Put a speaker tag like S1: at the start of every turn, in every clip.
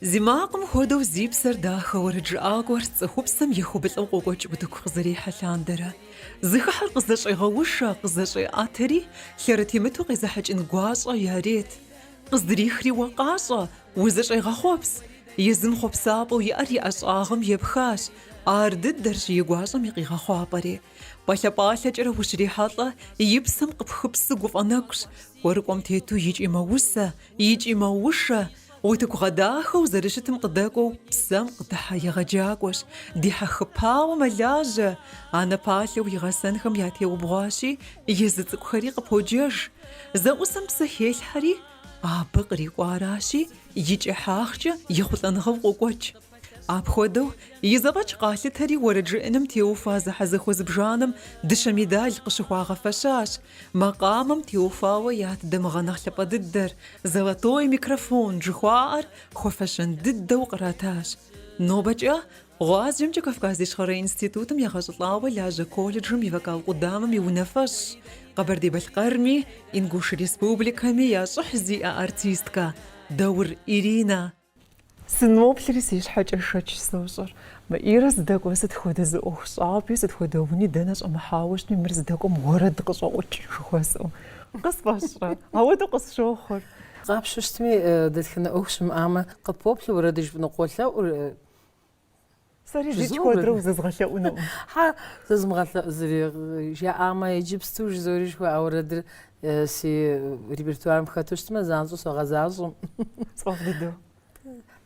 S1: Зи макъым хуэдэу зи псэр дахэ уэрэджыӏакӏуэр цӏыхупсэм ехуэбылӏэу къокӏуэкӏ утыку къызэрихьэ лъандэрэ. Зыхыхьэр къызэщӏегъэушэ, къызэщӏеӏэтэри, лъэрытемыту къезыхьэкӏын гуащӏэ ярет. Къыздрихри уэ къащӏэ, узэщӏегъэхъуэпс! Езым хъуэпсапӏэу иӏэр и ӏэщӏагъэм епхащ. Ар дыдэрщ и гуащӏэм и къигъэхъуапӏэри. Пӏалъэ-пӏалъэкӏэрэ ущрихьэлӏэ, и псэм къыпхыпсы гуфӏэ нэгущ, кӏуэрыкӏуэм тету икӏи мэусэ, Икӏи мэушэ, утыку гъэдахэу зэрыщытым къыдэкӏуэу псэм къыдыхьэ егъэджакӏуэщ, дихьэхыпауэ мэлажьэ, анэ палъэу и гъэсэнхэм ятеубгъуащи, езы цӏыкӏухэри къыподжэж. Зэӏусэм псэ хелъхьэри, абы кърикӏуэ аращи, и кӏыхьагъкӏэ ехъулӏэныгъэу къокӏуэкӏ. Апхуэдэу, и зэфӏэкӏ къалъытэри уэрэд жыӏэным теухуа зэхьэзэхуэ зыбжанэм дыщэ медаль къыщыхуагъэфэщащ, макъамэм теухуауэ ят дамыгъэ нэхъ лъапӏэ дыдэр, золотой микрофон жыхуаӏэр хуэфэщэн дыдэу къратащ. Нобэкӏэ гъуазджэмкӏэ Кавказ Ищхъэрэ институтым егъэщӏылӏауэ лажьэ колледжым и вокал къудамэм и унафэщӏщ, Къэбэрдей-Балъкъэрми, Ингуш Республикэми я щӏыхь зиӏэ артисткэ Даур Иринэ. Сыноплъри си щхьэкӏэ шэч сощӏэр. Мы Ирэ зыдэкӏуэр сыт хуэдэ зы ӏуэхущӏапӏи, сыт хуэдэ уни дэнэ щӏэмыхьауэ щытми, мыр зыдэкӏуэм уэрэд къыщӏэӏукӏ жыхуэсӏэу. Къысфӏэщӏрэ? Ауэдэу къысщохъур. Къапщтэу щытми,
S2: дэтхэнэ ӏуэху щымыӏамэ, къыппоплъэ уэрэд жыпӏэну къолъэӏур.
S1: Сэри зикӏ куэдрэ узэзгъэлъэӏунукъым.
S2: Хьэ, зэзмыгъэлъэӏуу зыри жаӏамэ, иджыпсту жызоӏэри жыхуаӏэ уэрэдыр си репертуарым хэту щытмэ, занщӏэу согъэзащӏэм. Сфӏэфӏ
S1: дыдэу.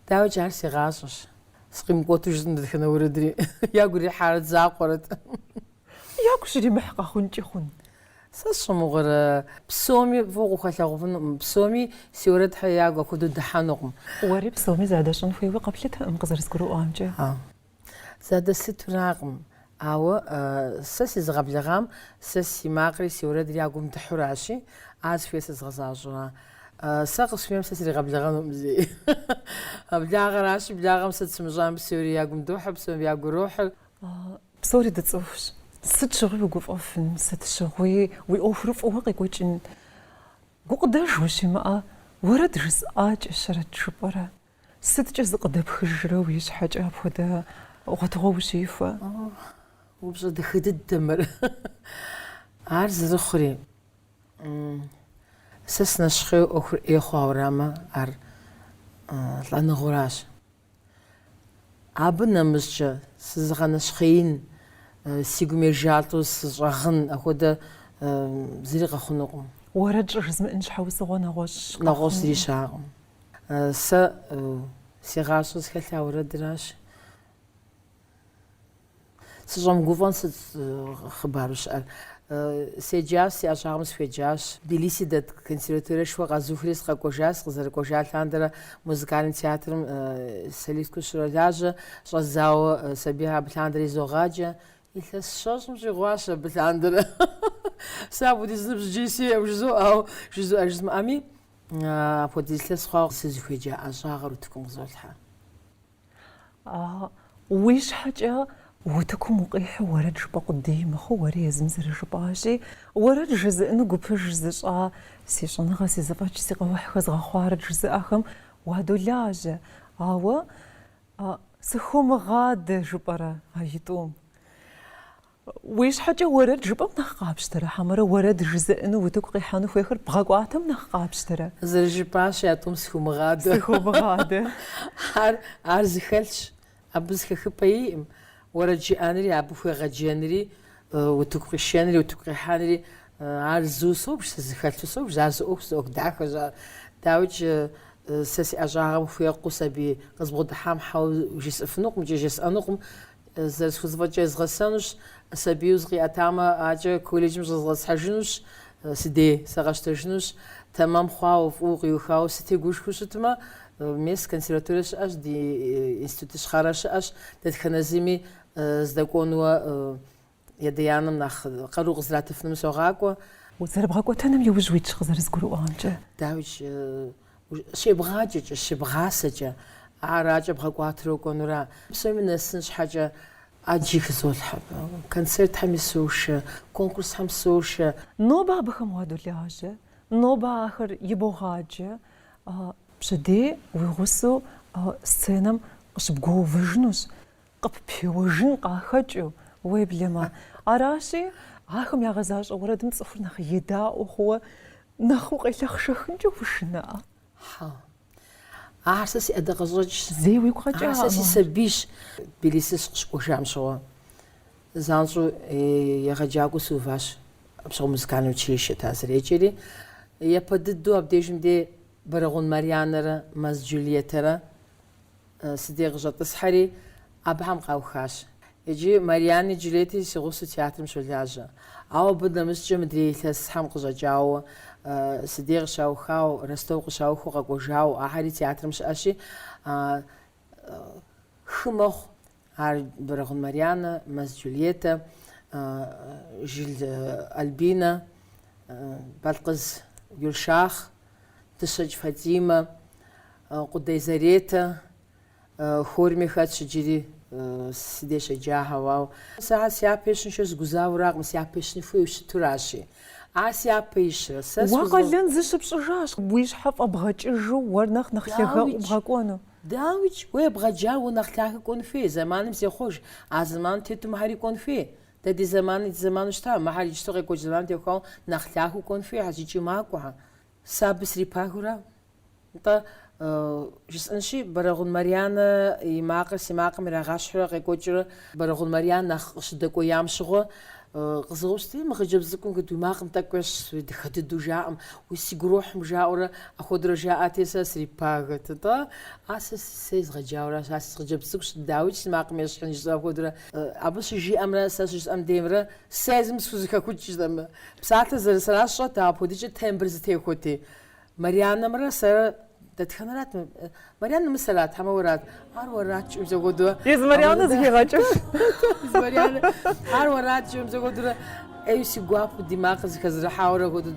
S2: Дауэкӏэ ар си гъащӏэщ. Сыкъимыкӏуэту жытӏым дэтхэнэ уэрэдри. Ягу ирихьарэт закъуэрэт.
S1: Ягу щыримыхь къэхъункӏи хъун.
S2: Сэ сщӏэ мыгъуэрэ? Псоми фӏыуэ укъахуэлъагъуфынукъым, псоми си уэрэдхэр ягу апхуэдэу дыхьэнукъым. Уэри
S1: псоми задэщӏын хуейуэ къэплъытэкъым, къызэрызгурыӏуамкӏэ.
S2: Задэслъытуракъым, ауэ сэ сезыгъэблэгъам сэ си макъри си уэрэдри я гум дыхьуращи, ар зыхуейр сэ згъэзащӏэра? Сэ къысхуэмейм сэ сригъэблэгъэнукъым зэи. Благъэращи, благъэм сыт сымыщӏам, псори я гум дохьэ, псом я гу ирохьыр.
S1: Псори дыцӏыхущ. Сыт щыгъуи угуфӏэфын, сыт щыгъуи уи ӏуэхур фӏыуэ къекӏуэкӏын. Гукъыдэж ущимыӏэ, уэрэд жысӏакӏэщэрэт жыпӏэрэ? Сыткӏэ зыкъыдэпхыжрэ уи щхьэкӏэ апхуэдэ гъуэтыгъуэ ущихуэ?
S2: Упщӏэ дахэ дыдэ мыр. Ар зэрыхъури, сэ сынэщхъейуэ ӏуэхур ӏей хъуауэ арамэ, ар лӏэныгъэуращ. Абы нэмыщӏкӏэ, сызыгъэнэщхъеин, си гум ежалӏэу сыщӏэгъын, апхуэдэ зыри къэхъунукъым. Уэрэд
S1: щӏыжызмыӏын щхьэусыгъуэ нэгъуэщӏ къэхъунукъым. Нэгъуэщӏ зыри
S2: щыӏакъым. Сэ си гъащӏэр зыхэлъар уэрэдращ. Сыщӏэмыгуфӏэн сыт хъыбару щыӏэр? Седжащ, си ӏэщӏагъэм сыхуеджащ. Тбилиси дэт консерваториешхуэ къэзухри сыкъэкӏуэжащ, сыкъызэрыкӏуэжа лъандэрэ музыкальнэ театрым солисткэу сыщролажьэ, щӏэздзауэ сабийхэр абы лъандэрэ изогъаджэ. Илъэс щэщӏым щӏигъуащ абы лъандэрэ. Сэ апхуэдиз ныбжьи сиӏэм жызоӏэу, жызоӏэ жызмыӏэми, апхуэдиз илъэс хъуауэ сызыхуеджа ӏэщӏагъэр утыкум къызолъхьэ.
S1: Уи щхьэкӏэ утыкум укъихьу уэрэд жыпӏэ къудей мыхъуу, уэри езым зэрыжыпӏащи, уэрэд жызыӏыну гупыж зыщӏа, си щӏэныгъэ, си зэфӏэкӏ, си къэухь хэзгъэхъуарэт жызыӏэхэм уадолажьэ. Ауэ сыхумыгъадэ жыпӏэрэ а итӏум? Уи щхьэкӏэ уэрэд жыпӏэм нэхъ къапщтэрэ, хьэмэрэ уэрэд жызыӏэну утыку къихьэну хуейхэр бгъэкӏуатэм нэхъ къапщтэрэ? Зэрыжыпӏащи, а
S2: тӏум схумыгъадэ. Сыхумыгъадэ.
S1: Ар,
S2: ар зыхэлъщ, абы зыхэхыпӏэ иӏым. Уэрэд жыӏэнри, абы хуегъэджэнри, утыку къишэнри, утыку къихьэнри, ар зыу собж, сэ зыхэлъу собж, ар зы ӏуэхущ, зы ӏуэху дахэщ ар. Дауикӏ, сэ си ӏэщӏагъэм хуекъуу сабий къызбгъэдыхьам хьэуэ жесӏыфынукъым икӏи жесӏэнукъым. Зэрысхузэфӏэкӏкӏэ езгъэсэнущ, сабийуэ зыкъиӏэтамэ, акӏэ колледжым щӏэзгъэсхьэжынущ, си дей сэ къэсщтэжынущ, тэмэм хъуауэ, фӏыуэ къиухауэ сытегушхуэу щытмэ, мес консерваторие щыӏэщ, ди институт ищхъэрэ щыӏэщ, дэтхэнэ зыми здэкӏуэнуэ Едеяным нэхъ къару къызратыфыным согъакӏуэ. Уэ
S1: зэрыбгъэкӏуэтэным иужь уитщ къызэрызгурыӏуамкӏэ.
S2: Дауичӏ, щебгъаджэкӏэ, щебгъасэкӏэ ар акӏэ бгъэкӏуатру кӏуэнура? Псоми нэсын щхьэкӏэ ӏэджи хызолъхьэ. Концертхэми сошэ, конкурсхэм сошэ. Нобэ
S1: абыхэм уадолажьэ, нобэ ахэр ибогъаджэ, пщэдей уи гъусэу сценэм къыщыбгуэувэжынущ. Къыппеуэжын къахэкӏыу, уеблэмэ. Аращи, ахэм ягъэзащӏэ уэрэдым цӏыхур нэхъ едаӏуэ хъууэ, нэхъ укъелъэхъшэхынкӏэ ушынэрэ? Хьа.
S2: Ахэр сэ си ӏэдакъэщӏэкӏщ. Зэи уигу къэкӏа? Ахэр
S1: сэ си
S2: сабийщ. Тбилиси сыкъыщыкӏуэжам щыгъуэ, занщӏэу егъэджакӏуэу сыуващ, апщыгъуэ музыкальнэ училищэт ар зэреджэри. Япэ дыдэу абдежым де Бэрэгъун Марьянэрэ Мэз Джульеттэрэ Си дей къыщӏэтӏысхьэри, абыхэм къаухащ. Иджы Марианни Джульетти си гъусэу театрым щолажьэ. Ауэ абы нэмыщӏкӏэ мыдрей илъэсхэм къыщӏэкӏауэ, си дей къыщаухауэ, Ростов къыщаухыу къэкӏуэжауэ, ахэри театрым щыӏэщи, хы мэхъу. Ар Бэрэгъун Марьянэ, Мэз Джульеттэ, Жил Альбинэ, Балкъыз Гюльшах, Дыщэкӏ Фатимэ, Къудей Заретэ, хорми хэтщ иджыри си деж щеджахэу. Ауэ сэ ар си япэ ищыншэу сыгузавэракъым, си япэ ищын хуейуэ щытуращи. Ар си япэ ищрэ? Сэ... Уэ къалэн
S1: зыщыпщӏыжащ, уи щхьэ фӏэбгъэкӏыжу уэр нэхъ нэхъ лъагэу бгъэкӏуэну. Дауикӏ,
S2: уэ ебгъэджар уэ нэхъ лъагэ кӏуэн хуей, зэманым зехъуэж, а зэманым тету мыхьэри кӏуэн хуей. Дэ ди зэманри ди зэману щыта, мыхьэр иджыпсту къекӏуэкӏ зэманым техуауэ нэхъ лъагэу кӏуэн хуейхьэщ икӏи макӏуэхьэ. Сэ абы срипагэурэ, нтӏэ, жысӏэнщи, Бэрэгъун Марьянэ и макъыр си макъым ирагъащхьурэ къекӏуэкӏыурэ Бэрэгъун Марьян нэхъ къыщыдэкӏуеям щыгъуэ, къызэупщӏти, мы хъыджэбз цӏыкӏум кыд уи макъым тӏэкӏу ещхь, дыхэ дыдэу жаӏэм, уи си гу ирохьым, жаӏэурэ ахуэдэрэ жаӏати, сэ срипагэт-тӏэ, а сэ сэ езгъэджауэращ, а си хъыджэбз цӏыкӏущ, дауикӏ си макъым ещхьын жысӏэу ахуэдэрэ. Абы щыжиӏэмрэ сэ щыжысӏэм деймрэ сэ езым схузэхэхукӏтэм. Псалъэ зэрысэрар сщӏэт, ауэ апхуэдикӏэ тембр зэтехуэти. Марианнэмрэ сэрэ дэтхэнэрат мы? Марианнэ мы сэрат, хьэмэ уэрат? Ар уэрат, жиӏэу зэхуэдурэ. Езы
S1: Марианнэ зыхигъэкӏыж. Езы
S2: Марианнэ. Ар уэрат, жиӏэу зэхуэдурэ. ӏейу си гуапэу ди макъыр зыхэзэрыхьауэрэ хуэдэу.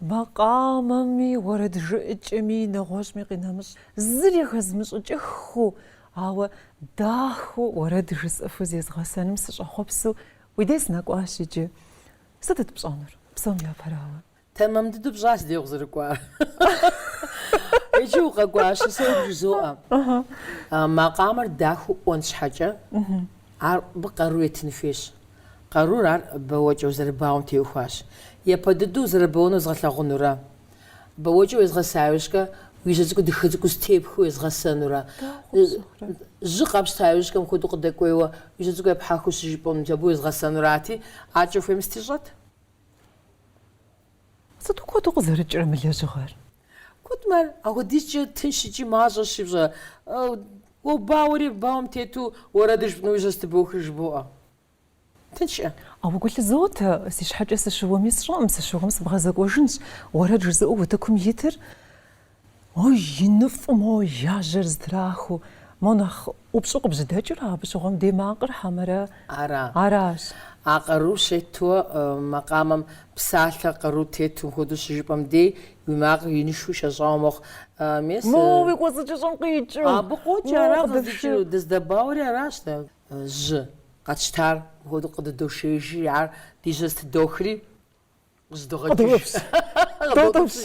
S1: Макъамэми, уэрэджыӏыкӏэми, нэгъуэщӏми къинэмыщӏ. Зыри хэзмыщӏыкӏыххыу, ауэ дахэу уэрэд жысӏэфу зезгъэсэным сыщӏэхъуэпсу уи дей сынэкӏуащ иджы. Сытыт пщӏэнур, псом япэрауэ? Тэмэм дыдэу
S2: пщӏащ ди дей укъызэрыкӏуар. Иджы укъэкӏуащи, сэ уэ бжызоӏэ. Макъамэр дахэу ӏуэн щхьэкӏэ, ар абы къару етын хуейщ. Къарур ар бэуэкӏэу зэрыбауэм теухуащ. Япэ дыдэу зэрыбэуэну уэзгъэлъэгъунурэ? Бэуэкӏэ уезгъэса иужькӏэ, уи жьэ цӏыкӏу дыхэ цӏыкӏуу зэтепхыу уезгъэсэнурэ? Жьы къэпщта иужькӏэ, мыхуэдэу къыдэкӏуейуэ, уи жьэ цӏыкӏу епхьэхыу щыжыпӏэну, мис абы уезгъэсэнурати, аркӏэ хуейм сытищӏэт?
S1: Сыту куэду къызэрыкӏрэ мы лэжьыгъэр! Куэдмэ
S2: ар апхуэдизкӏэ тынш икӏи мащӏэщи, пщӏэ, уэбауэри бауэм тету уэрэдыр жыпӏэну уи жьэ зэтыбохри жыбоӏэ. Тыншкъэ? Ауэ
S1: гу лъызотэ, си щхьэкӏэ сыщыуэми сщӏэкъым, сыщыуэм сыбгъэзэкӏуэжынщ. Уэрэд жызыӏэу утыкум итыр? Ой, иныфӏу мо я жьэр зытрахыу, мо нэхъ ӏупщӏу къыбжьэдэкӏыр абы щыгъуэм дей макъыр хьэмэрэ? Ара? Аращ. А къару
S2: щетуэ макъамэм псалъэ къару тету мыхуэдэу щыжыпӏэм дей, уи макъыр инышхуэу шэщӏауэ мэхъу. Мес. Мо уи
S1: кӏуэцӏыкӏыщӏэм къикӏыу. Абы къокӏэ,
S2: ара къыздикӏыну, дыздэбауэри аращ дэ. Жьы къэтщтар мыхуэдэу къыдыдошеижри, ар ди жьэ зытыдохри. Къыдогъэкӏыж. Къыдогъэпс.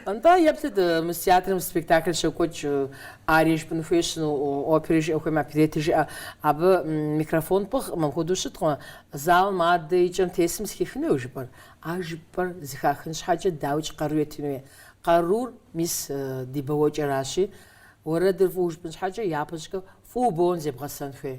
S2: Нтӏэ, еплъыт, мы театрым спектакль щокӏуэкӏ, арие жыпӏын хуейщ ину, опери жыӏэ хуеймэ, оперети жыӏэ. Абы микрофон пӏыгъкъым, апхуэдэу щыткъым. Залым адэ и кӏэм тесым зыхихын хуей жыпӏэр? А жыпӏэр зыхахын щхьэкӏэ дауикӏ къару етын хуей? Къарур мис ди бауэкӏэращи, уэрэдыр фӏыуэ жыпӏын щхьэкӏэ, япэщӏыкӏэ фӏыуэ бауэн зебгъэсэн хуей.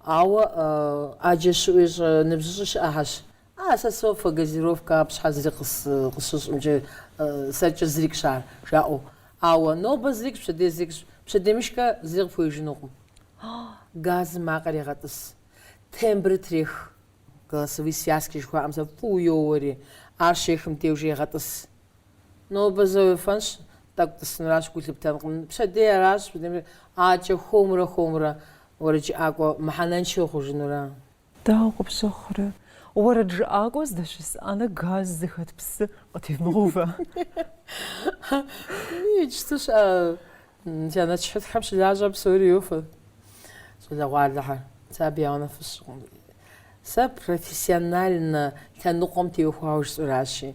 S2: Ауэ ӏэджэ щыӏуи щӏэ, ныбжьыщӏи щыӏэхьэщ. А, сэ софэ, газировкэ абы щхьэ зыри къысщыщӏымкӏэ, сэркӏэ зырикӏщ ар, жаӏэу. Ауэ, нобэ зырикӏщ, пщэдей зырикӏщ. Пщэдеймыщкӏэ зыри къыпхуеижынукъым. Газым макъыр егъэтӏыс. Тембрыр трех. Голосовые связки жыхуаӏэм зэ фӏыуэ йоуэри, ар щехым деж егъэтӏыс. Нобэ зэ уефэнщ, тӏэкӏу тӏысынуращ гу лъыптэнкъым. Пщэдей аращ, ӏакӏэ хуэмурэ хуэмурэ уэрэджыӏакӏуэ мыхьэнэншэ ухъужынура. Дауэ
S1: къыпщыхъурэ, уэрэджыӏакӏуэ здэщыс ӏэнэ газ зыхэт псы къытемыгъэувэ.
S2: Иджыпсту щыӏэ чэнэтщхьитӏхэм щылажьэм псори йофэ щӏалэгъуалэхэр. Сэ абы я унафэ сщӏыкъым. Сэ профессиональнэ лъэныкъуэм теухуауэ жысӏэращи,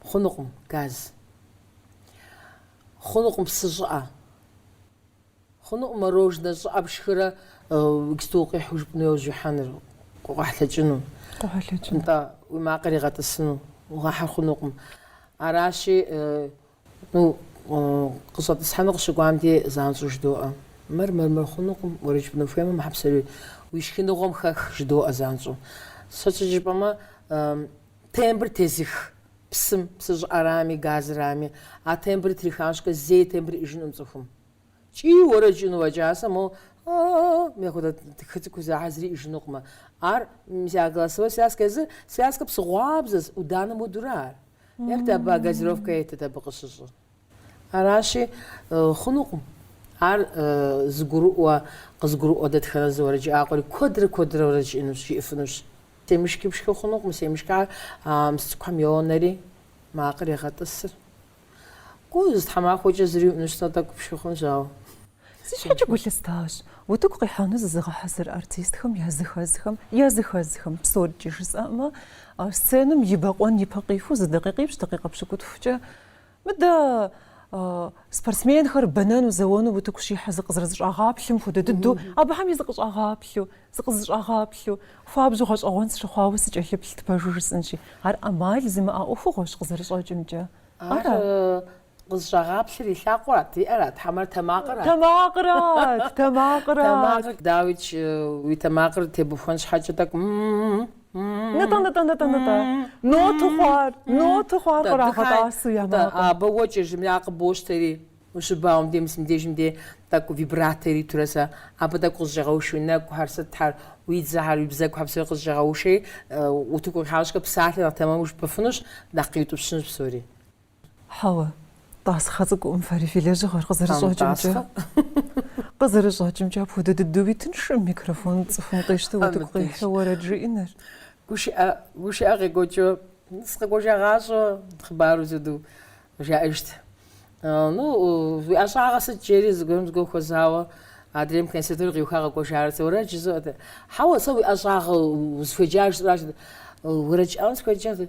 S2: Хъунукъым, газ. Хъунукъым псы щӏыӏэ. Хъунукъым мороженэ щӏыӏэ пшхырэ иджыпсту укъихьэу жыпӏэну яужь ихьэныр, къохьэлъэкӏыну. Къохьэлъэкӏыну. Нтӏэ, уи макъыр игъэтӏысыну угъэхьыр хъунукъым. Аращи, Къыщӏэтӏысхьэну къыщыкӏуам дей, занщӏэу жыдоӏэ, Мыр, мыр, мыр хъунукъым, уэрэд жыпӏэну ухуеймэ, мыхьэ псори уи шхыныгъуэм хэх, жыдоӏэ занщӏэу. Сыт щхьэкӏэ жыпӏэмэ, тембр тезых псым, псы щӏыӏэрами, газырами. А тембрыр трихащкӏэ, зэи тембр иӏэжынукъым цӏыхум. Кӏий уэрэд жыӏэну уэкӏасэ, моу, а-а-а-а-а, мыхьэ хуэдэ тхы цӏыкӏур зэхьэ зыри иӏэжынукъымэ. Ар, мис а голосовой связкэ езыр, связкэ псыгъуабзэщ, ӏуданэм хуэдурэ ар. Еплъыт абы а газировкэ етыт абы къыщыщӏыр. Аращи, хъунукъым. Ар зыгурыӏуэ, къызгурыӏуэ дэтхэнэ зы уэрэджыӏакӏуэри, куэдрэ куэдрэ уэрэд жиӏынущ, жиӏыфынущ. Семышки пшхы хъунукъым, семышкэ ар мис цӏыкӏухэм йонэри, макъыр егъэтӏысыр. Гу зы тхьэмахуэкӏэ зыри уӏынущ, зэ тӏэкӏу пшхы хъунущ, ауэ. Си
S1: щхьэкӏэ гу лъыстащ утыку къихьэну зызыгъэхьэзыр артистхэм языхэзхэм, языхэзхэм псоркӏи жысӏэмэ, сценэм и бэкъуэн ипэ къиху зы дакъикъипщ дакъикъэ пщыкӏутхукӏэ мыдэ спортсменхэр бэнэну, зэуэну утыку щихьэ зыкъызэрызэщӏагъэплъым хуэдэ дыдэу, абыхэм и зыкъыщӏагъэплъу, зыкъызэщӏагъэплъу, хуабжьу гъэщӏэгъуэн сыщыхъуауэ сыкӏэлъыплът пэжу жысӏынщи. Ар ӏэмал зимыӏэ ӏуэхугъуэщ къызэрыщӏэкӏымкӏэ. Ар
S2: Къызэщӏагъэплъыр и лъакъуэрат, и ӏэрат, хьэмэр тэмакъырат. Тэмакъырат,
S1: тэмакъырат. Тэмакъыр,
S2: дауикӏ, уи тэмакъыр тебухуэн щхьэкӏэ тӏэкӏу м-м-м. Нытӏэ, нытӏэ,
S1: нытӏэ, нытӏэ. Нотэу хъуар, нотэу хъуар кърагъэтӏасэу я макъым. Абы уэ
S2: кӏыжми, ар къыбощтэри, ущыбауэм де, мысым дежым де, тӏэкӏу вибрато иритурэ сэ, абы тӏэкӏу къызэщӏегъэушэ уи нэкӏухэр, сытхэр, уи дзэхэр, уи бзэгухэр псори къызэщӏегъэушэри, утыку къихьащкӏэ псалъэ нэхъ тэмэму жыпӏэфынущ, нэхъ къиутӏыпщынущ псори.
S1: Хьэуэ, тӏасхъэ цӏыкӏукъым фэри фи лэжьыгъэр къызэрыщӏэкӏымкӏэ. Къызэрыщӏэкӏымкӏэ апхуэдэ дыдэуи тыншкъым микрофон цӏыхум къищтэу утыку къихьэу уэрэд жиӏэныр. Гушыӏэ,
S2: гушыӏэ къекӏуэкӏыу, сыкъекӏуэкӏа гъащӏэу хъыбару зэду жаӏэжт. Ну, уи ӏэщӏагъэ сыт жери зыгуэрым зыгуэр хуэзауэ адрейм консерватори къиуха къэкӏуэжар, сэ уэрэд жызоӏэ. Хьэуэ, сэ уи ӏэщӏагъэ узыхуеджар жысӏэращ, уэрэд щӏауэ сыхуеджэ,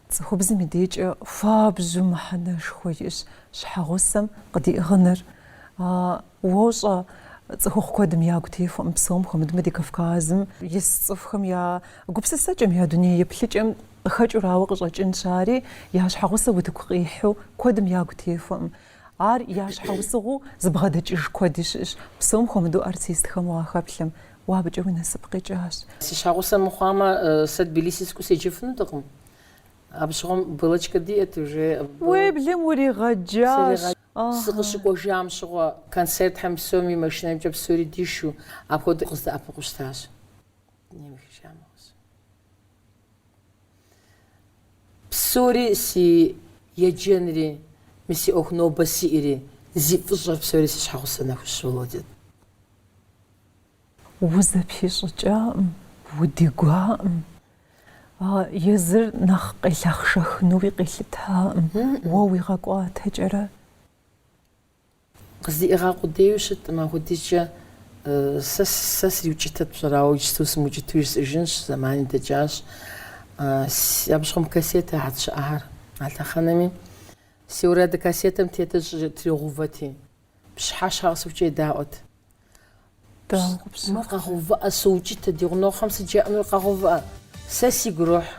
S1: Цӏыхубзым и декӏэ хуабжьу мыхьэнэшхуэ иӏэщ щхьэгъусэм къыдиӏыгъыныр. Уощӏэ, цӏыхухъу куэдым ягу техуэкъым, псом хуэмыдмэ, ди Кавказым ис цӏыхухэм я гупсысэкӏэм, я дуней еплъыкӏэм къыхэкӏыурауэ къыщӏэкӏынщ ари, я щхьэгъусэ утыку къихьэу куэдым ягу техуэкъым. Ар я щхьэусыгъуэу зыбгъэдэкӏыж куэди щыӏэщ, псом хуэмыдэу артистхэм уахэплъэм, уэ абыкӏэ уи насып къикӏащ. Си щхьэгъусэ
S2: мыхъуамэ, сэ Тбилиси сыкӏуэу седжэфынутэкъым. Абы щыгъуэм Беллочкэ диӏэт уже.
S1: Уеблэм уригъэджащ.
S2: Сыкъыщыкӏуэжам щыгъуэ концертхэм псоми машинэмкӏэ псори дишу апхуэдэу къыздэӏэпыкъуу щытащ. Псори си еджэнри, мы си ӏуэху нобэ сиӏэри, зи фӏыщӏэр псори си щхьэгъусэ Нэхущ Володя.
S1: Узэпищӏыкӏакъым, удигуакъым. Езыр нэхъ къелъэхъшэхынуи къилъытакъым, уэ уигъэкӏуатэкӏэрэ.
S2: Къыздиӏыгъа къудейуи щыткъым, апхуэдизкӏэ сэ сэ сриукӏытэт пщӏэрэ, ауэ иджыпсту сымыукӏытэу жысӏыжынщ, зэмани дэкӏащ. Абы щыгъуэм кассетэхэт щыӏахэр а лъэхъэнэми. Си уэрэду кассетэм тетыр щӏы тригъэувэти, пщыхьэщхьэ къэсыхукӏэ едаӏуэт. Даугъупсэ. Мыр къэгъэувыӏэ, соукӏытэ, ди гъунэгъухэм сыт жаӏэнур къэгъэувыӏэ. Сэ сигу ирохь,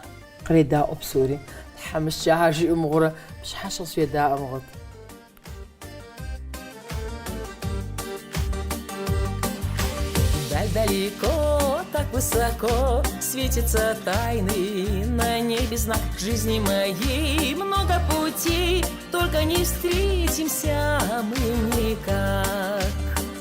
S2: къредаӏуэ псори. Тхьэмыщкӏэ ар жиӏэу мыгъуэурэ, пщыхьэщхьэ къызэдаӏуэ мыгъуэт.
S3: Так далеко, так высоко, светится тайный на небе знак. В жизни моей много путей, только не встретимся мы никак.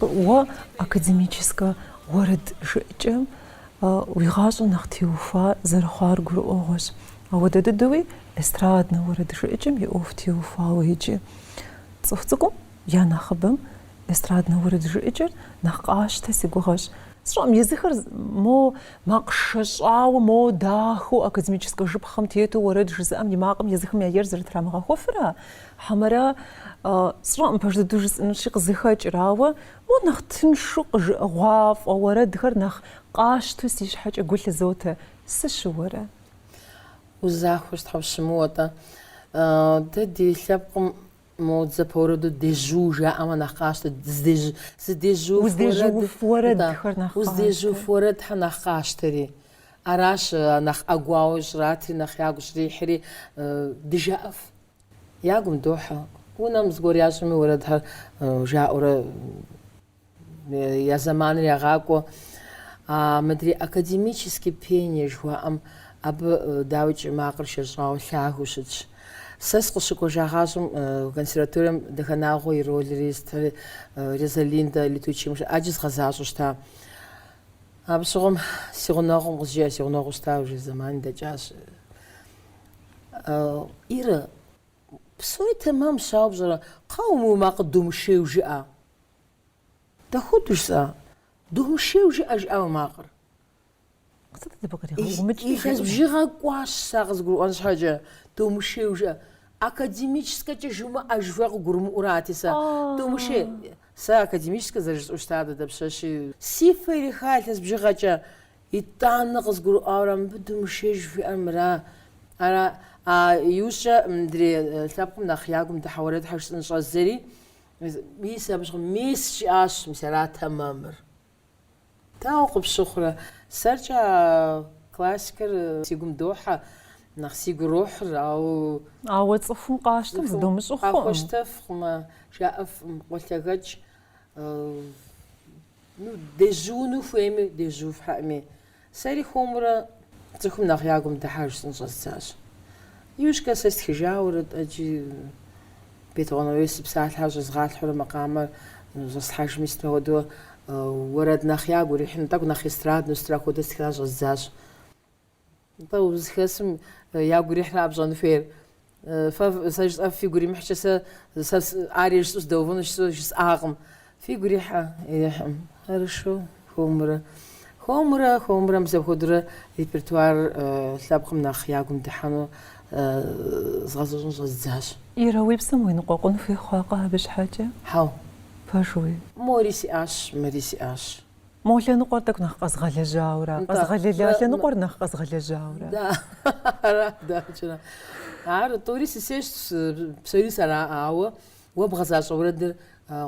S1: Уэ академическэ уэрэд жыӏэкӏэм уи гъащӏэ нэхъ теухуа зэрыхъуар гурыӏуэгъуэщ. Ауэ дыдэуи эстраднэ уэрэд жыӏэкӏэм и ӏуэху теухуауэ, иджы цӏыху цӏыкӏум я нэхъыбэм Эстраднэ уэрэд жыӏэкӏэр нэхъ къащтэ, си гугъэщ. Сщӏэӏым, езыхэр мо макъ шэщӏауэ, мо дахэу академическэ жыпхъэм тету уэрэд жызыӏэм и макъым езыхэм я ер зэрытрамыгъэхуэфыра, хьэмэрэ, сщӏэӏым, пэж дыдэу жысӏэнущи, къызыхэкӏыр, ауэ мо нэхъ тыншу къыжыӏыгъуафӏэ уэрэдхэр нэхъ къащту си щхьэкӏэ гу лъызотэ, сыщыуэрэ?
S2: Узахуэщ, тхьэ, ущымыуэ-тӏэ. Дэ ди лъэпкъым Мо дзапэ уэрэду дежу жаӏэмэ нэхъ къащтэ, здежу, здежуф уэрэд.
S1: Уздежуф уэрэдхэр нэхъ къащтэ. Да, уздежуф уэрэдхэр
S2: нэхъ къащтэри. Аращ а нэхъ ӏэгуауэ щӏратри, нэхъ я гу щӏрихьри, дыжаӏэф. Я гум дохьэ. Унэм зыгуэр ящӏми уэрэдхэр жаӏэурэ. Я зэманыр ягъакӏуэ. А мыдрей академический пение жыхуаӏэм абы, дауикӏи, макъыр шэщӏауэ лъагэу щытщ. Сэ сыкъыщыкӏуэжагъащӏэм консерваторием Дахэнагъуэ и ролри сытхэри, Розалиндэ Летучим, ӏэджи згъэзащӏэу щыта. Абы щыгъуэм си гъунэгъум къызжеӏэ, си гъунэгъуу щыта, уже зэмани дэкӏащ. Ирэ. Псори тэмэмщ, ауэ пщӏэрэ, кхъа, мы макъыр думышейуэ жыӏэ. Дапхуэдэу, жысӏа? Думышейуэ жыӏэ, жиӏа мы макъыр. Къытӏытӏ дыбы къригъэумыкӏи. Илъэс бжыгъэ кӏуащ сэ къызгурыӏуэн щхьэкӏэ. Думышейуэ жыӏэ. Академическэкӏэ жумыӏэ жыхуиӏэр къызгурымыӏуэрати сэ. Думышей. Сэ академическэ зэрыжысӏэу щытар дадэ пщэщи. Си фэ ириха илъэс бжыгъэкӏэ. Итӏанэ къызгурыӏуауэрэ мыбы думышей жыхуиӏэр мыра? Ара? А иужькӏэ мыдрей лъэпкъым нэхъ я гум дыхьэ уэрэдхэр жысӏэн щӏэздзэри, мис абы щыгъуэм, мис жиӏащ, мис арат тэмэмыр. Дауэ къыпщыхъурэ? Сэркӏэ а классикэр си гум дохьэ, нэхъ сигу ирохьыр, ауэ. Ауэ
S1: цӏыхум къащтэм зыдумыщӏу хъукъым. Къахуэщтэфкъым,
S2: жаӏэфкъым, къолъэгэкӏ. Ну, дежьууну хуейми, дежьуф, хьэӏми. Сэри хуэмурэ цӏыхум нэхъ я гум дыхьэ жысӏэн щӏэздзащ. Иужькӏэ сэ стхыжауэрэ тӏэкӏи, Бетыгъуэн Арэс и псалъэхэр щӏэзгъалъхьурэ макъамэр щӏэслъхьэжми, сытми хуэдэу уэрэд нэхъ ягу ирихьыну, тӏэкӏу нэхъ эстрадну сытра хуэдэ стхыурэ щӏэздзащ. Нтӏэ, узыхэсым ягу ирихьыра пщӏэн хуейр? Фэ, сэ жысӏэф фигу иримыхькӏэ, сэ, сэ арие жысӏэу сыдэувэну щысу жысӏакъым. Фигу ирихьэ? Ирихьым. Хорошо, хуэмурэ. Хуэмурэ, хуэмурэ, мис апхуэдэурэ репертуар лъэпкъым нэхъ ягум дыхьэну згъэзэщӏэн щӏэздзащ. Ирэ, уи псэм
S1: уеныкъуэкъун хуей хъуакъэ абы щхьэкӏэ? Хьэу.
S2: Пэжуи?
S1: Мори сиӏащ,
S2: мыри сиӏащ. Мо
S1: лъэныкъуэр тӏэкӏу нэхъ къэзгъэлэжьауэрэ. Къэзгъэлэла лъэныкъуэр нэхъ къэзгъэлэжьауэрэ.
S2: Да, ара, дакӏэрэ. Ар тӏури сысейщ, псори сэрауэ, уэ бгъэзащӏэ уэрэдыр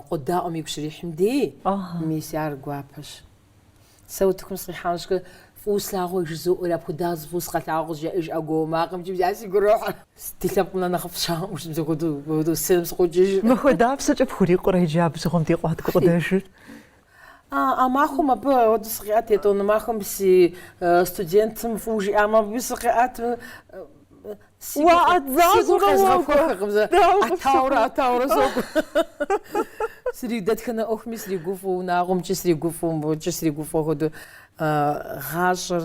S2: къодаӏуэм игу щрихьым дей, мис ар гуапэщ. Сэ утыкум сыкъихьам щхэ, фӏыуэ слъагъуэ жызоӏэри, апхуэдабзэу фӏыуэ сыкъэлъагъуэ къызжеӏэж ӏэгуауэ макъымкӏи бжа си гу ирохь. Ди лъэпкъым нэхъ нэхъыфӏ щыӏэӏым, жи мыпхуэдэу сценэм сыкъокӏыж. Махуэ дапщэкӏэ
S1: пхурикъурэ иджы абы щыгъуэм дей къуат гукъыдэжыр?
S2: А махуэм абы ауэдэ сыкъиӏэт, етӏуанэ махуэм си студентым фӏыуэ жиӏамэ, абы сыкъиӏэт. Си гур къезгъэхуэхыркъым зэ. ӏэтауэрэ, ӏэтауэрэ сокӏуэ. Сригу дэтхэнэ ӏуэхуми сригуфӏэу, унагъуэмкӏи сригуфӏэу, мыбыкӏи сригуфӏэу хуэдэу гъащӏэр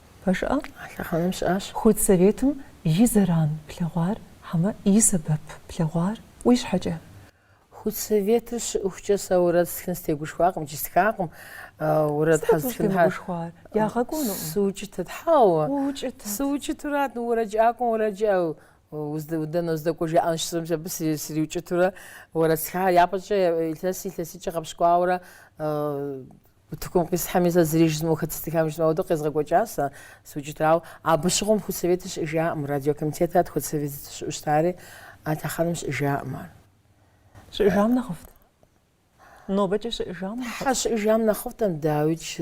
S1: Пэжӏэ, а
S2: лъэхъэнэм щыӏащ. Худсоветым
S1: и зэран плъэгъуар хьэмэ и сэбэп плъэгъуар уи щхьэкӏэ? Худсоветыр
S2: щыӏыхукӏэ сэ уэрэд стхын стегушхуакъым икӏи стхакъым. Уэрэд Сыт абы ущӏытемыгушхуар?
S1: Ягъэкӏуэнукъым. Сыукӏытэт,
S2: хьэуэ.
S1: Уукӏытэт. Сыукӏытурат,
S2: ну уэрэджыӏакӏуэм уэрэджыӏэу дэнэ уздэкӏуэ жаӏэн щысӏэмкӏэ абы сриукӏытурэ уэрэд стхахэр япэкӏэ илъэс илъэскӏэ гъэпщкӏуауэрэ Утыкум къисхьэми сэ зыри жызмыӏэу хэт зытхам жызмыӏэу ауэдэу къезгъэкӏуэкӏащ сэ сыукӏытурауэ. Абы щыгъуэм худсоветыр щыӏэжаӏым, радиокомитетрат худсовет щыӏэу щытари, а лъэхъэнэм щыӏэжаӏым ар.
S1: Щыӏэжам нэхъыфӏт? Нобэкӏэ щыӏэжам нэхъыфӏт? Хьэ,
S2: щыӏэжам нэхъыфӏт, дауикӏ,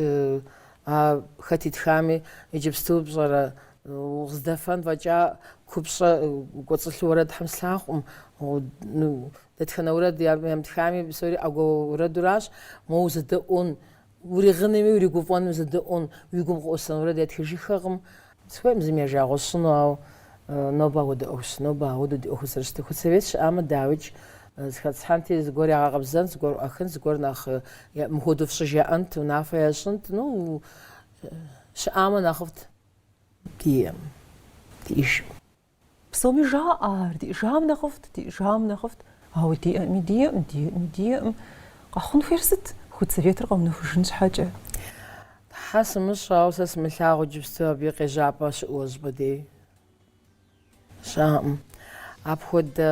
S2: а хэт итхами, иджыпсту пщӏэрэ, укъыздэфэн фӏэкӏа купщӏэ кӏуэцӏылъу уэрэд Тхьэм слъагъукъым, Дэтхэнэ уэрэд ямытхами, псори ӏэгуауэ уэрэдуращ, моуэ узэдэӏуэн, уригъынми уригуфӏэнми узэдэӏуэн, уи гум къеӏусэн уэрэд ятхыжыххэкъым. Сыхуейкъым зыми я жагъуэ сщӏыну, ауэ нобэ апхуэдэ ӏуэхущ, нобэ ауэдэу ди ӏуэхур зэрыщытыр. Худсовет щыӏамэ, дауикӏ, зыхэтсхьэнти, зыгуэр ягъэкъэбзэнт, зыгуэр ӏуахынт, зыгуэр нэхъ мыхуэдэу фщӏы жаӏэнт, унафэ ящӏынт, ну, щыӏамэ нэхъыфӏт диӏэжӏым.
S1: Псоми жаӏэ ар, диӏэжам нэхъыфӏт, диӏэжам нэхъыфӏт. Ауэ диӏэми, диӏэм, диӏэми, диӏэм. Къэхъун хуейр сыт? Худсоветыр къэунэхужын щхьэкӏэ.
S2: Тхьэ сымыщӏэ, ауэ сэ сымылъагъу иджыпсту абы и къежьапӏэ щыӏэу щӏыпӏэ дей? Щыӏэкъым. Апхуэдэ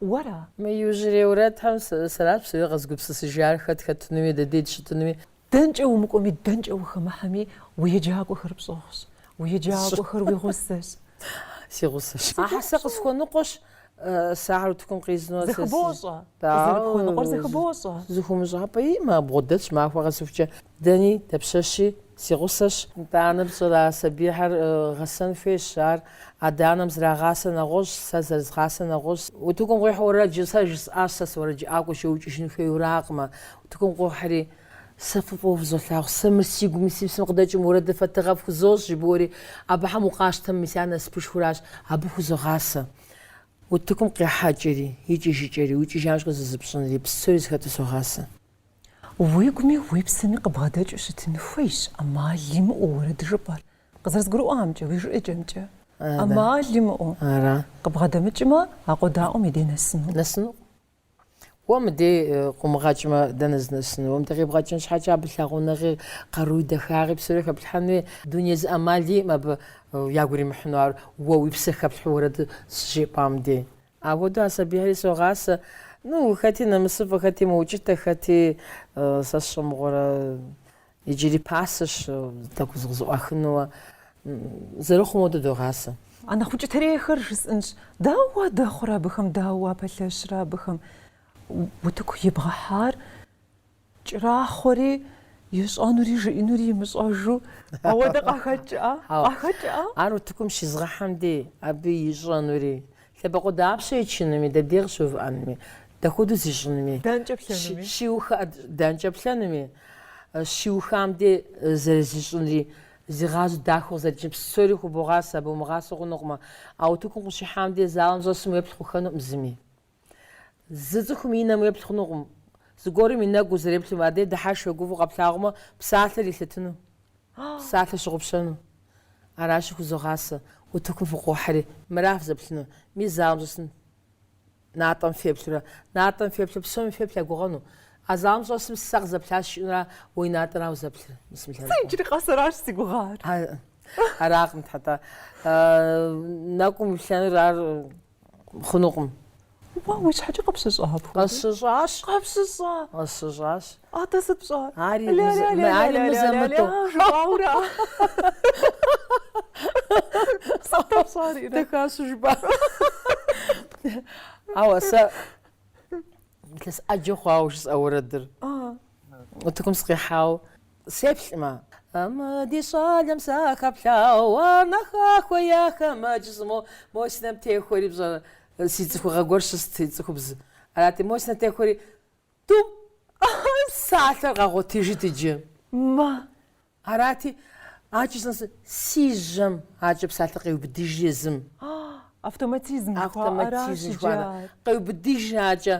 S1: Уэра? Мы
S2: иужьрей уэрэдхэм сэращ псори къэзгупсысыжар, хэт хэтынуи, дэ дей дыщытынуи. Дэнкӏэ умыкӏуэми,
S1: дэнкӏэ ухэмыхьэми, уи еджакӏуэхэр пщӏыгъущ, уи еджакӏуэхэр уи гъусэщ.
S2: Си гъусэщ. Ахьэ сэ къысхуэныкъуэщ, сэ ахэр утыкум къизну.
S1: Зэхыбощӏэ. Къызэрыпхуэныкъуэр зэхыбощӏэ.
S2: Зэхыумыщӏапӏэ имэ, а бгъэдэтщ махуэ къэсыхукӏэ. Дэни, дапщэщи, си гъусэщ. Нтӏанэ пщӏэрэ, а сабийхэр гъэсэн хуейщ, ар адэ-анэм зэрагъасэ нэгъуэщӏ, сэ зэрызгъасэ нэгъуэщӏ. Утыкум укъихьэу уэрэдыр сэ жысӏащ, сэ суэрэджыӏакӏуэщ, уикӏыжын хуейуракъымэ. Утыкум къохьри, сэ фэ фӏыуэ фызолъагъу, сэ мыр си гум и си псэм къыдэкӏ мы уэрэдыр фэ тыгъэ фхузощӏ, жыбоӏэри, абыхэм укъащтэмэ, мис ар насыпышхуращ, абы хузогъасэ. Утыкум къихьэкӏэри, икӏыжыкӏэри, уикӏыжам щыгъуэ зызыпщӏынри, псори зыхэтыр согъасэ. Уи
S1: гуми уи псэми къыбгъэдэкӏыу щытын хуейщ ӏэмал имыӏэу уэрэд жыпӏэр, къызэрызгурыӏуамкӏэ, уи жыӏэкӏэмкӏэ. ӏэмал имыӏэу
S2: къыбгъэдэмыкӏмэ,
S1: а къодаӏуэм и дей нэсыну.
S2: Нэсынукъым. Уэ мыдей къыумыгъэкӏмэ, дэнэ зынэсыну? Уэ мыдэ къибгъэкӏын щхьэкӏэ абы лъагъунэгъи, къаруи, дахагъи псори хэплъхьэн хуей. Дуней зы ӏэмал иӏэм абы ягу иримыхьыну ар уэ уи псэ хэплъхьу уэрэд щыжыпӏам дей. Апхуэдэу а сабийхьэри согъасэ, ну, хэти нэмысыфӏэ, хэти мыукӏытэ, хэти сэ сщӏэ мыгъуэрэ, иджыри пасэщ тӏэкӏу зыкъызэӏуахыну, ауэ зэрыхъум хуэдэу догъасэ. А нэхъ
S1: укӏытэрейхэр жысӏынщ, дауэ уадэхъурэ абыхэм, дауэ уапэлъэщрэ абыхэм? Утыку ибгъэхьар Кӏэрахъуэри, ищӏэнури жиӏэнури имыщӏэжу, ауэдэ къахэкӏа? Къахэкӏа?
S2: Ар утыкум щизгъэхьэм дей, абы ищӏэнури. Лъэбакъуэ дапщэ ичынуми, дэ дей къыщыувыӏэнуми, дапхуэдэу зищӏынуми? Дэнкӏэ
S1: плъэнуми?
S2: Щиуха, дэнкӏэ плъэнуми? Щиухам дей, зэрызищӏынри, зигъазэу дахэу къызэрикӏынри, псори хубогъасэ, абы умыгъасэу хъунукъымэ. А утыкум къыщихьам дей, залым щӏэсым уеплъ хъухэнукъым зыми. Зы цӏыхум и нэм уеплъ хъунукъым, зыгуэрым и нэгу узэреплъым, адэ дыхьэшх е гуфӏэу къэплъагъумэ, псалъэр илъэтыну, псалъэр пщыгъупщэну. Аращи, хузогъасэ, утыкум фыкъохьэри, мыра фызэплъыну, мис залым щӏэсым натӏэм феплъурэ. Натӏэм феплъу, псоми феплъ я гугъэну. А залым щӏэсым сэ къызэплъащ жиӏэнура, уи натӏэра узэплъыр? Бисмиллахи. Иджыри къэс аращ си
S1: гугъэр. Аракъым,
S2: тхьэтӏэ. Нэгум иплъэнур ар хъунукъым. Уа,
S1: уи щхьэкӏэ къыпщыщӏа апхуэдэ?
S2: Къысщыщӏащ.
S1: Къыпщыщӏа?
S2: Къысщыщӏащ. Атӏэ сыт пщӏэ?
S1: Ари
S2: мызэ,
S1: ари
S2: мызэ-мытӏэу. Жыпӏауэ
S1: ара? Сыт дэ пщӏар, Ирэ?
S2: Дыхащыжыпӏа? Ауэ сэ илъэс ӏэджэ хъуауэ жысӏэ уэрэдыр. Утыкум сыкъихьауэ. Сеплъмэ. Мы ди щӏалэм сахэплъауэ а нэха хуеяхэ мэдж зы мо, мо си нэм техуэри пщӏэрэ? Си цӏыхугъэ гуэр щыст, и цӏыхубз арати, мо си нэм техуэри тӏум псалъэр къэгъуэтыжыт иджы.
S1: Мэ.
S2: Арати, акӏи сынэсу си жьэм акӏэ псалъэр къеубыдыжи езым.
S1: Автоматизм жыхуаӏэращ иджы
S2: ар. Къеубыдыжи акӏэ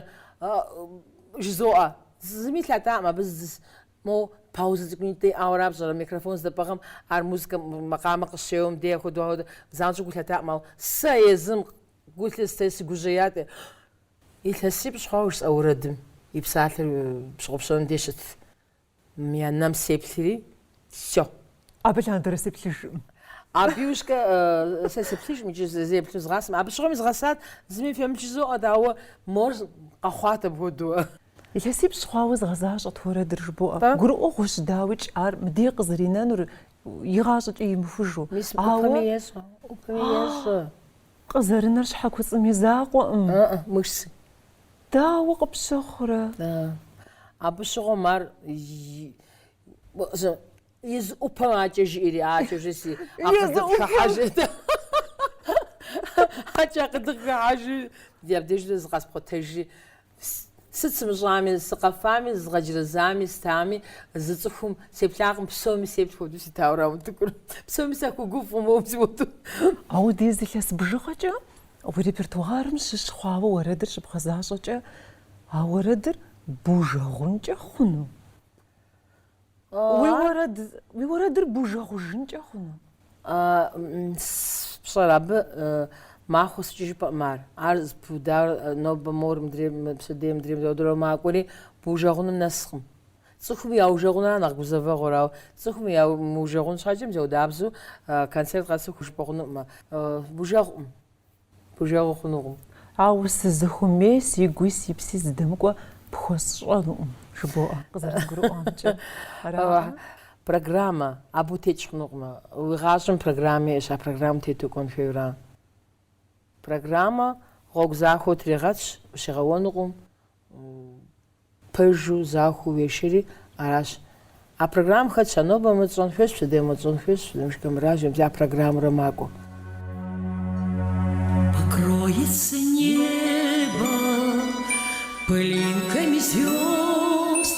S2: жызоӏэ. Зыми лъатакъым абы Мо паузэ цӏыкӏунитӏэ иӏауэ ара пщӏэрэ? Микрофон здэпӏыгъэм ар музыкэм, макъамэ къыщеуэм дей ахуэдэу ахуэдэ занщӏэу гу лъатакъым, ауэ сэ езым гу лъысти, сыгужьеят. Илъэсипщӏ хъуауэ жысӏа уэрэдым и псалъэр пщыгъупщэным дей щытт. Мы и нэм сеплъри, сехъу. Абы
S1: лъандэрэ сеплъыжкъым. Абы
S2: иужькӏэ сэ сеплъыжкъым икӏи зэзеплъу згъасэм. Абы щыгъуэм изгъэсат, зыми фемыплъ жызоӏэ, ауэ мор къэхъуат апхуэдэу. Илъэсипщӏ
S1: хъуауэ згъэзащӏэт уэрэдыр жыбоӏэ. Гурыӏуэгъуэщ дауикӏ ар мыдей къызэринэнур игъащӏэкӏэ имыхужу. Мис
S2: ӏупэми ещӏэ, ӏупэми
S1: ещӏэ. Къызэрынэр щхьэ куцӏым и закъуэкъым. Ыы, мышцы.
S2: Дауэ
S1: къыпщыхъурэ? Ыы,
S2: абы щыгъуэм ар Езы ӏупэм акӏэ жиӏэри, акӏэ уже си акъыдыхыхьэжырт. Акӏэ акъыдыхыхьэжыр ди абдежрэ зыкъэспхъуэтэжри, сыт сымыщӏами, сыкъэфами, зызгъэджэрэзами, стами, зы цӏыхум сеплъакъым, псоми сеплъ хуэдэу ситауэ ара утыкур. Псоми сахуэгуфӏу моуэ си уэду. Ауэ
S1: ди зы илъэс бжыгъэкӏэ уи репертуарым щыщ хъуауэ уэрэдыр щыбгъэзащӏэкӏэ, а уэрэдыр бужэгъункӏэ хъуну? Уи уэрэд уи уэрэдыр бужэгъужынкӏэ
S2: хъуну? Пщӏэрэ, абы махуэ сыкӏи жыпӏэӏым ар. Ар зэпыудауэ нобэ мор мыдрей пщэдей мыдрей мыдрей макӏуэри бужэгъуным нэскъым. Цӏыхум яужэгъунра нэхъ гузэвэгъуэр, ауэ цӏыхум яужэгъун щхьэкӏэ мы зэхуэдабзэу концерт къэсыху жыпӏэ хъунукъымэ. Бужэгъуӏым. Бужэгъу хъунукъым.
S1: Ауэ сызыхуэмей сигуи си пси зыдэмыкӏуэ пхуэсщӏэнукъым жыбоӏэ, къызэрызгурыӏуамкӏэ. Ара? Программэ
S2: абы утекӏ хъунукъым. Уи гъащӏэм программэ иӏэщ, а программэм тету кӏуэн хуейуэ ара? Программэ гъуэгу захуэу тригъэтщ, ущигъэуэнукъым, Пэжу, захуэу уешэри, аращ. А программэм хэтщ а нобэ мы тщӏэн хуейщ, пщэдей мы тщӏэн хуейщ, фызэмыш камераж, абдж а программэрэ макӏуэ.
S3: Покроется небо пылинками звезд.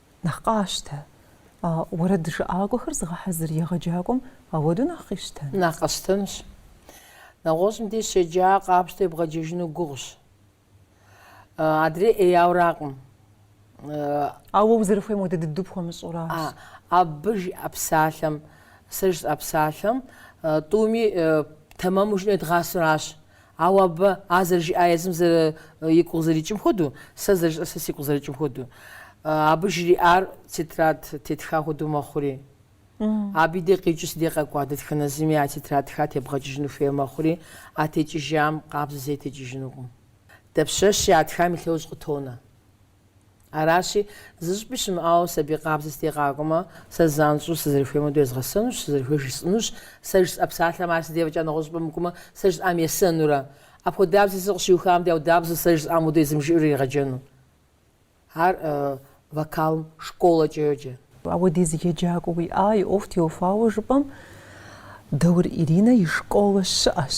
S1: Нэхъ къащтэ. А уэрэд жыӏакӏуэхэр зыгъэхьэзыр егъэджакӏуэм ауэдэу нэхъ къищтэн. Нэхъ
S2: къэсщтэнщ. Нэгъуэщӏым деж щеджа къапщтэу ебгъэджэжыну гугъущ. Адрей
S1: ӏеяуракъым. Ауэ узэрыхуейм хуэдэ дыдэу пхуэмыщӏуращ.
S2: Абы жиӏэ псалъэм, сэ жысӏэ псалъэм, тӏуми тэмэму жиӏэну едгъасэуращ. Ауэ абы, а зэрыжиӏа езым зэры игу къызэрикӏым хуэдэу, сэ зэрыжиӏэр сэ сигу къызэрикӏым хуэдэу. Абы жриӏар тетрад тетха хуэдэу мэхъури. Абы и дей къикӏыу си дей къэкӏуа дэтхэнэ зыми а тетрадхэр тебгъэкӏыжыну хуейуэ мэхъури, а текӏыжам къабзэу зэи текӏыжынукъым. Дапщэщи, а тхам и лъэужь къытонэ. Аращи, зыщӏыпӏи щымыӏауэ сабий къабзэ си дей къакӏуэмэ, сэ занщӏэу сызэрыхуейм уэду езгъэсэнущ, сызэрыхуейр жысӏэнущ, сэ жысӏэ псалъэм ар си дей фӏэкӏа нэгъуэщӏ щӏыпӏэ мыкӏуэмэ, сэ жысӏам есэнурэ. Апхуэдабзи сэ къыщиухам дей ауэдабзэу сэ жысӏам уэду езым жиӏэурэ иригъэджэну? Ар вокалым школэкӏэ йоджэ. Ауэдиз еджакӏуэ
S1: уиӏа, и ӏуэху теухуауэ жыпӏэм, Даур Иринэ и школэ щыӏэщ.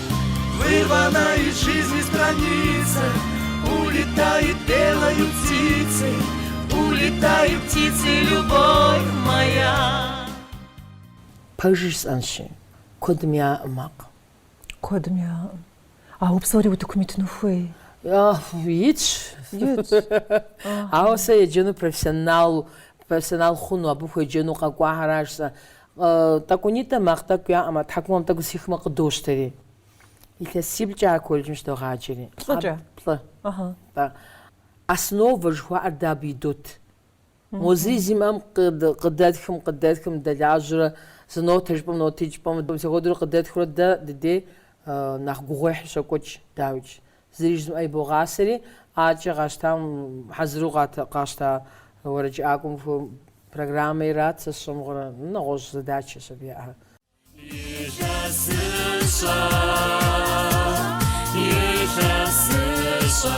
S4: Вырванная из жизни страница Улетает белою птицей Улетает птицей любовь моя
S2: Пэж жысӏэнщи, куэдым яӏэкъым макъ. Куэдым
S1: яӏэкъым. Ауэ псори утыкум итыну хуей? Итщ. Итщ.
S2: Ауэ сэ еджэну профессионал профессионал хъуну, абы хуеджэну къэкӏуахэращ сэ. Тӏэкӏунитӏэ макъ тӏэкӏу яӏэмэ, тхьэкӏумэм тӏэкӏу зэхихмэ къыдощтэри. Илъэсиплӏкӏэ а колледжым щыдогъаджэри.
S1: Плӏыкӏэ?
S2: Плӏы. Тӏэ. Основэ жыхуаӏэр дэ абы идот. Мо зыри зимыӏэм къыдэтхым, къыдэтхым, дэлажьэурэ, зы нотэ жыпӏэм, нотитӏ жыпӏэм, мис апхуэдэурэ къыдэтхурэ дэ дыдей нэхъ гугъуехь щокӏуэкӏ, дауикӏ. Зыри жызымыӏэ ибогъасэри, акӏэ къащтам хьэзыру къащта уэрэджыӏакӏуэм программэ ират сэ сщӏэ мыгъуэрэ, нэгъуэщӏ задачэщ абы яӏэхэр. Илъэсыщӏэ, илъэсыщӏэ.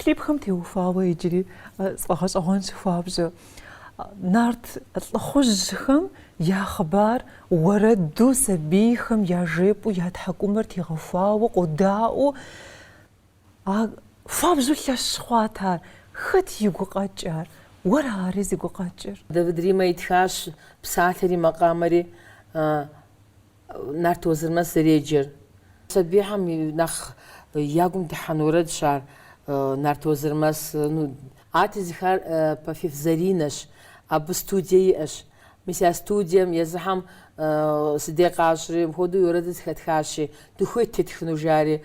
S1: Клипхэм теухуауэ иджыри сфӏэгъэщӏэгъуэнщ хуабжьу. Нарт лӏыхъужьхэм я хъыбар уэрэду сабийхэм яжепӏэу я тхьэкӏумэр тегъэхуауэ къодаӏуэу а хуабжьу лъэщ хъуат ар. Хэт и гукъэкӏ ар? Уэра ари зи гукъэкӏыр? Давид Римэ итхащ
S2: псалъэри макъамэри. Нарт Уэзырмэс зэреджэр. Сабийхэм нэхъ я гум дыхьэн уэрэдщ ар, Нарт Уэзырмэс. Ну. Ар тезыхар Пафиф Заринэщ. Абы студие иӏэщ. Мис я студием езыхэм сыдекъащӏри, мыпхуэдэу и уэрэдыр зыхэтхащи, дыхуейт тетхыну, жари,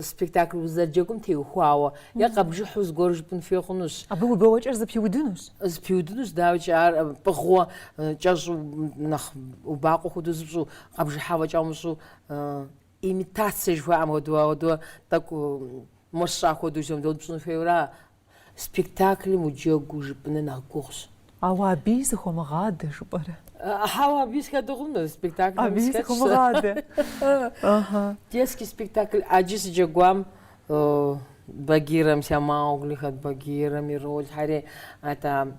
S2: спектакль узэрыджэгум теухуауэ е къэбжыхьу зыгуэр жыпӏын хуей хъунущ. Абы уи бэуэкӏэр
S1: зэпиудынущ. Зэпиудынущ,
S2: дауикӏ ар пӏыгъыу кӏэщӏу нэхъ убакъуэ хуэдэу зыпщӏу, къэбжыхьа фӏэкӏа умыщӏу, имитация жыхуаӏэм хуэдэу, ауэдууэ тӏэкӏу мощӏа хуэдэу жэмдот пщӏын хуейуэра, Спектаклым уджэгуу жыпӏэныр нэхъ гугъущ. Ауэ
S1: абыи сыхыумыгъадэ жыпӏэрэ? Ауэ абыи
S2: сыхадэ хъунурэ, спектаклым схэтщ сэ. Абыи сыхыумыгъадэ.
S1: Детский
S2: спектакль ӏэджи сыджэгуам Багирэм, ся Маугли хэт Багирэм и ролхэри, это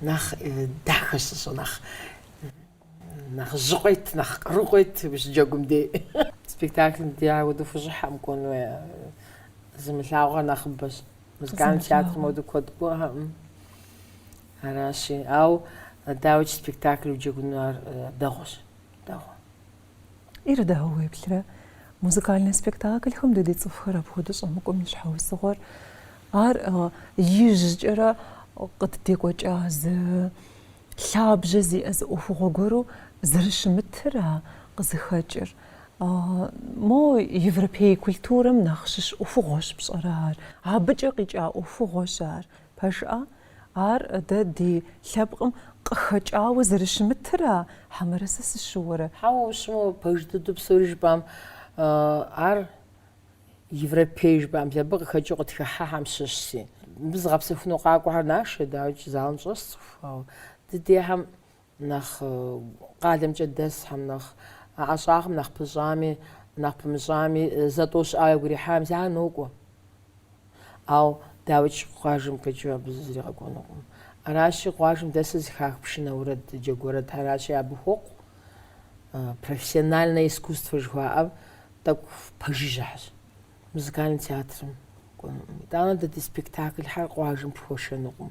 S2: Нэхъ дахэ сыщӏэ, нэхъ нэхъ жьы къует, нэхъ къару къует ущыджэгум дей. Спектаклым дей ауэду хущӏыхьэкъым кӏуэну е. Зымылъэгъуар нэхъыбэщ. Музыкальным театрым ауэду куэд кӏуэхэкъым. Аращи, ауэ дауикӏ спектакль уджэгуну ар дэгъуэщ, дэгъуэ.
S1: Ирэ, дауэ уеплърэ? Музыкальнэ спектаклхэм дэ ди цӏыхухэр апхуэдэу щӏэмыкӏуэм и щхьэусыгъуэр ар ижькӏэрэ къыддекӏуэкӏа зы лъабжьэ зиӏэ зы ӏуэхугъуэ гуэру зэрыщымытыра къызыхэкӏыр. Мо европей культурэм нэхъ щыщ ӏуэхугъуэщ пщӏэрэ ар, абыкӏэ къикӏа ӏуэхугъуэщ ар. Пэжа, ар дэ ди лъэпкъым къыхэкӏауэ зэрыщымытыра, хьэмэрэ сэ сыщыуэрэ? Хьэуэ,
S2: ущымыуэу пэж дыдэу псори жыпӏам, ар европей жыпӏам дэ абы къыхэкӏыу къытхыхьахэм щыщщи, абы зыгъэпсэхуну къакӏуэхэр нашэ, дауикӏ залым щӏэс цӏыху, ауэ ди дейхэм нэхъ къалэмкӏэ дэсхэм, нэхъ ӏэщӏагъэм, нэхъ пыщӏами, нэхъ пымыщӏами, зэ-тӏэу щыӏауэ игу ирихьам зэ нокӏуэ. Ауэ дауикӏ къуажэм къикӏыу абы зыри къэкӏуэнукъым. Аращи, къуажэм дэсыр зыхах пшынэ уэрэд, джэгу уэрэдхэращи, абы хуокъу профессиональнэ искусствэ жыхуаӏэм тӏэкӏу пэжыжьэхэщ. Музыкальный театрым. Итӏанэ дэ ди спектаклхэр къуажэм пхуэшэнукъым.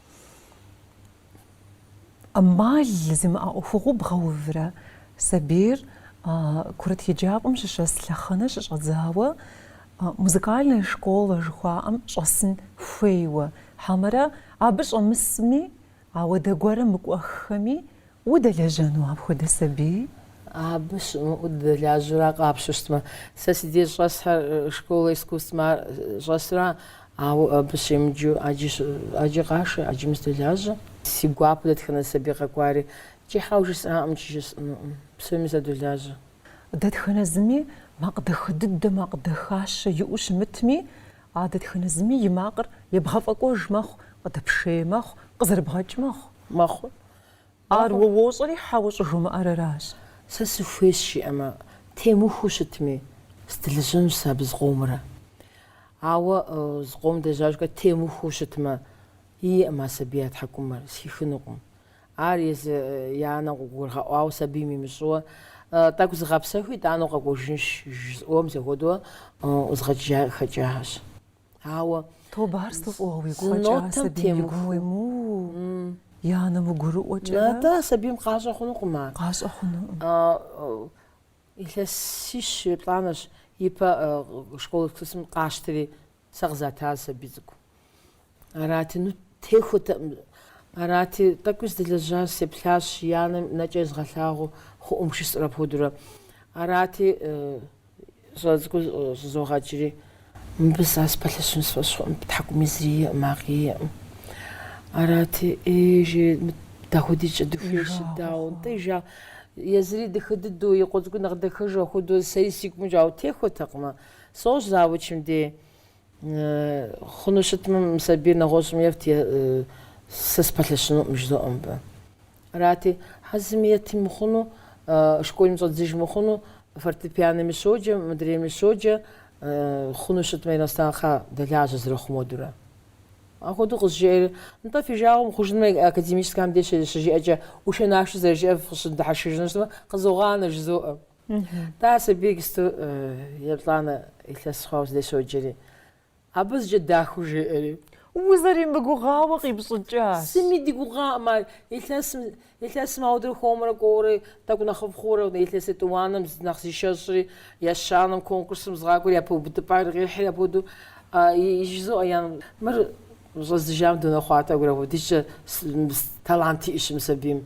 S1: ӏэмал зимыӏэ ӏуэхугъуэу бгъэуврэ, сабийр курыт еджапӏэм щыщӏэс лъэхъэнэ щыщӏэдзауэ музыкальная школэ жыхуаӏэм щӏэсын хуейуэ, хьэмэрэ абы щӏэмысми, ауэдэ гуэрым мыкӏуэххэми Удэлэжьэну апхуэдэ сабий?
S2: Абы щымыӏэу дыдэлажьэурэ къапщтэу щытмэ, сэ си деж щӏэсхэр школэ искусствэм щӏэсра, ауэ абы щемыджу ӏэджи ӏэджи къашэ, ӏэджэми садолажьэ. Си гуапэу дэтхэнэ сабий къэкӏуари икӏи хьэуэ жысӏаӏым икӏи жысӏэнукъым, псоми садолажьэ.
S1: Дэтхэнэ зыми макъ дахэ дыдэ, макъ дахащэ иӏэу щымытми, а дэтхэнэ зыми и макъыр ебгъэфӏэкӏуэж мэхъу, къыдэпшей мэхъу, къызэрыбгъэкӏ мэхъу. Мэхъу. Ар уэ уощӏэри хьэуэ щӏыжумыӏэр аращ. Сэ
S2: сыхуейщ жиӏэмэ, темыхуу щытми, сдылыжьынущ сэ абы зыкъомрэ. Ауэ зыкъом дежьа ужькӏэ темыхуу щытмэ, иӏэӏым а сабий я тхьэкӏумэр, зэхихынукъым. Ар езы и анэм къыгурызгъэӏуауэ сабийм имыщӏэу, Тӏэкӏу зыгъэпсэху, итӏанэу къэкӏуэжынщ, жызыӏуэм зэхуэдэу ӏузгъэкӏа, хэкӏахэщ. Ауэ Тобэ ар
S1: сыту фӏыуэ уигу къэкӏа Зы нотым сабийм и темыху. гу емыуэу. И анэм гурыӏуэкӏэрэ Нтӏэ, сабийм къащӏэ
S2: хъунукъым ар. къащӏэ хъунукъым. А,
S1: э,
S2: Илъэсищ еплӏанэщ, ипэ э, школ искусствэм къащтри, сэ къызата зы сабий цӏыкӏу. Арати, ну, техуэтэкъым. Арати, тӏэкӏуи сыдэлэжьащ сеплъащ, и анэм нэкӏэ езгъэлъагъуу хъуӏым жысӏэр апхуэдурэ. Арати, э, Щӏалэ цӏыкӏур щӏызогъэкӏри. Мыбы сэ сыпэлъэщыну си фӏэщ хъуӏым, тхьэкӏумэ зыри иӏэкъым, макъи иӏэкъым. Арати, ӏей, жи, мыт, дэ апхуэдизкӏэ дыхуейщ, дауэ, нтӏэ, жа, езыри дахэ дыдэу, и къуэ цӏыкӏур нэхъ дахэжу апхуэдэу, сэри сыгумащӏэ, ауэ техуэтэкъымэ. Сошэ завучым дей. Хъуну щытмэ, мы сабийр нэгъуэщӏым ефт, е сэ сыпэлъэщынукъым жызоӏэ мыбы. Арати, хьэуэ, зыми ети мыхъуну, школым щӏэддзыж мыхъуну, фортепианоми щоджэ, мыдрейми щоджэ, хъуну щытмэ, иностранхъэ дэлажьэ зэрыхъум хуэдэурэ. Апхуэдэу къызжеӏэри, нтӏэ, фи жагъуэ мыхъужынумэ, академическэхэм деж щыжиӏэкӏэ ӏушэ-нашэу зэрыжиӏэр фыщыдыхьэшхыжыну щытмэ, къызогъанэ жызоӏэ. Нтӏэ, сабийр иджыпсту еплӏанэ илъэс хъуау си деж щоджэри. Абы зыкӏэ дахэу жеӏэри. Узэримыгугъауэ
S1: къипщӏыкӏащ. Зыми дигугъакъым
S2: ар. Илъэсым, илъэсым апхуэдэурэ хуэмурэ кӏуэурэ, тӏэкӏу нэхъыфӏ хъуурэ, илъэс етӏуанэм нэхъ зишэщӏри, ещанэм, конкурсым згъакӏуэри, япэ увыпӏэр къихьри апхуэдэу. Иджы жызоӏэ ян, мыр щӏэздзыжам дунэхъуатэ гурэ, апхуэдизкӏэ талант иӏэщ мы сабийм.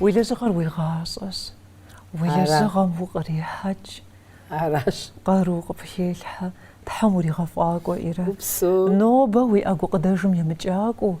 S1: Уи лэжьыгъэр уи гъащӏэщ. Уи лэжьыгъэм укърихьэкӏ. Аращ.
S2: Къару
S1: къыпхелъхьэ. Тхьэм уригъэфӏакӏуэ, Ирэ. Гупсэу. Нобэ
S2: уи
S1: гукъыдэжым емыкӏакӏуэу.